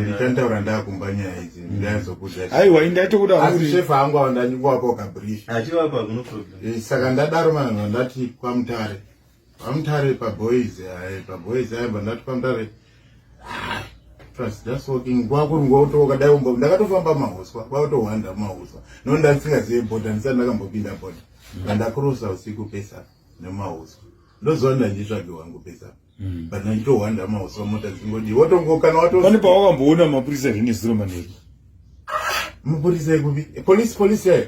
ndichantaura ndakumba nyaya idzi mm. ndaizokuaiwa indaitokuda asi shefa angu ava ndanyikuwapa ukabrish eh, saka ndadaro manhu ndati kwamutare kwamutare paboys ae paboys aimba ndati kwamutare kwakuringotookadaiomba ndakatofamba mahuswa kwakutohwanda mahuswa no ndandisingazive boda ndisati ndakambopinda boda mm. ndandakurusa usiku pesa nemahuswa ndoziva ndanditsvagi wangu pesa mm. but ndinohwanda mauswa mota dzingodi wotongo kana wato pane pawakamboona mapurisa here nezuro manheru mapurisa ekupi police police yayo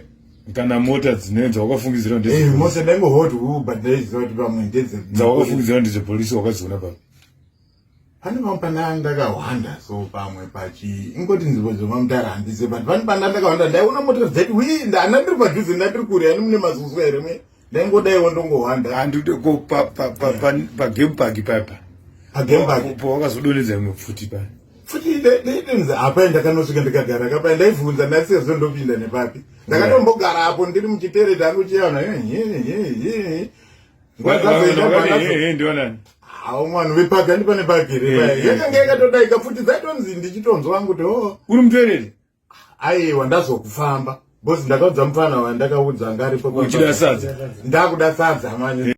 kana mota dzine dzawakafungidzira ndedzemota eh, ndaingo hot u but ndaiziva kuti pamwe ndedze dzawakafungidzira ndedzepolisi wakadziona pamwe pane pamwe pandanga ndakahwanda so pamwe pachi ingoti nzvimbo dzemamutara handize but pane pandanga ndakahwanda ndaiona mota dzati wi ndana ndiri padhuze ndandiri kure ani mune mazuzwa here mwe ndaingodaiwo ndongohwanda handide ko pagame park paipa po wakazodonedza imwe pfuti pa futi ndaidinzi apa ndakanosvika ndikagara kapa ndaivhunza ndasiya zvo ndopinda nepapi ndakatombogara apo ndiri muchitere tangu chiana hawo mwana vepaki andipane paki here yakanga yakatodaika futi dzaitonzi ndichitonzwa wangu kuti o oh. uri mutereri Aiwa ndazokufamba. Boss ndakaudza mfana wandakaudza ngaripo. Uchida sadza. Ndakuda sadza manje.